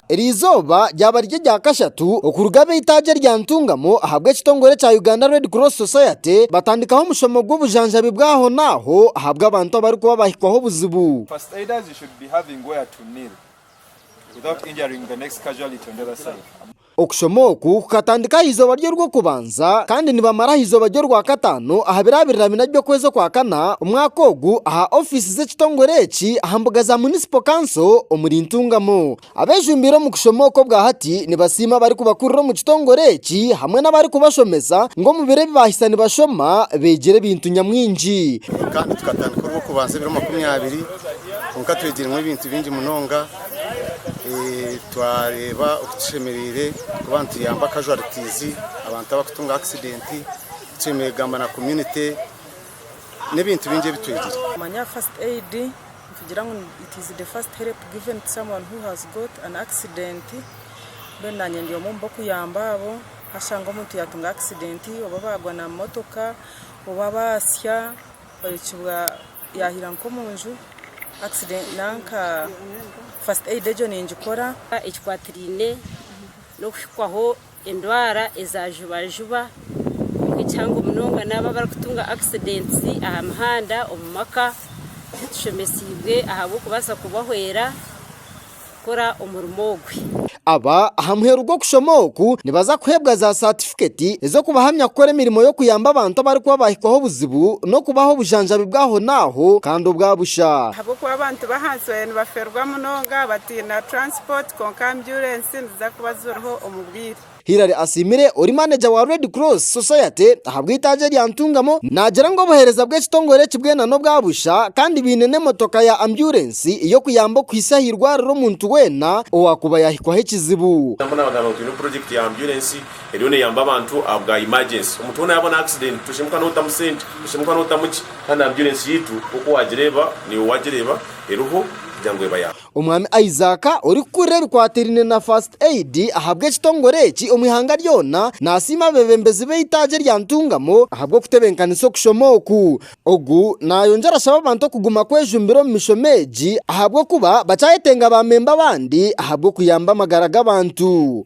Eri izooba ryaba riri erya kashatu okuruga ab'eitaagi erya Ntungamo ahabw'ekitongore kya Uganda Red Cross Society batandikaho omushomo gw'obujanjabi bw'ahonaaho ahabw'abantu abarikuba bahikwaho obuzibu. Okushoma oku kukatandika aha izooba rye orw'okubanza kandi nibamara aha izooba rye orwakataano aha birabirira bina by'okwezi okwakana omwaka ogu aha ofiisi z'ekitongore eki aha mbuga za Munisipo Kanso omuri Ntungamo. Abejumbiire omu kushoma oku obwa hati nibasiima abarikubakurira omu kitongore eki hamwe n'abarikubashomesa ngu omu biro ebi baahitsya nibashoma beegire ebintu nyamwingi. Kandi tukatandika orw'okubanza ebiro makumi abiri kwonka twegiremu ebintu bingi munonga. Twareeba oku tushemereire kuba nituyamba casualties, abantu abarikutunga accident, tushemereire kugamba na community n'ebintu bingi ebi twegire. Kumanya first aid, nitugira ngu it is the first help given to someone who has got an accident, mbwenu naanye ndi omwe omu barikuyamba abo, waashanga omuntu yaatunga accident oba baagwa na mootoka oba baasya. Orekibwa yahira nkomunju accident nanka first aid egyo ningikora. Ekikwatiraine n'okuhikwaho endwara eza jubajuba kwonka ekihango munonga n'abo abarikutunga accidents aha mihanda omu maka tushemeseibwe ahabw'okubaasa kubahwera. kukora omurimo ogwe. Aba aha muheru gw'okushoma oku nibaza kuheebwa za satifiketi ez'okubahamya kukora emirimo y'okuyamba abantu abarikuba baahikwaho obuzibu n'okubaha obujanjabi bw'ahonaaho kandi obwa busha. Ahabw'okuba abantu b'ahansi baabaire nibaferwa munonga bataine taransipoti kwonka ambyurensi niziza kuba ziriho omu bwire. Hillary asiimire ori maneja wa Red Cross Society ahabw'eitaagi eri aha ntungamo, naagira ngu obuheereza bw'ekitongore eki bwena n'obwa busha kandi baine n'emotoka ya ambyurensi ey'okuyamba okuhitsya aha irwariro omuntu weena owaakuba yaahikwaho ekizibu. Nabwo naabagambira ngu twine purojekiti ya ambyurensi eriyo neeyamba abantu aha bwa imagyensi. Omuntu weena yaabona akisidenti toshemuka nootamu sente, toshemuka nootamu ki, kandi ambyurensi yaitu nk'oku waagireeba naiwe waagireeba eriho kugira ngu eba ya. Omwami Isaac orikukurira ebikwatiraine na First Aid ahabw'ekitongore eki omu ihanga ryona nasiima abeebembezi b'eitaagi erya Ntungamo ahabw'okutebenkanisa okushoma oku. Ogu nayongyera ashaba abantu okuguma kwejumbira omu mishomo egi ahabw'okuba bakyayetenga baamemba abandi ahabw'okuyamba amagara g'abantu.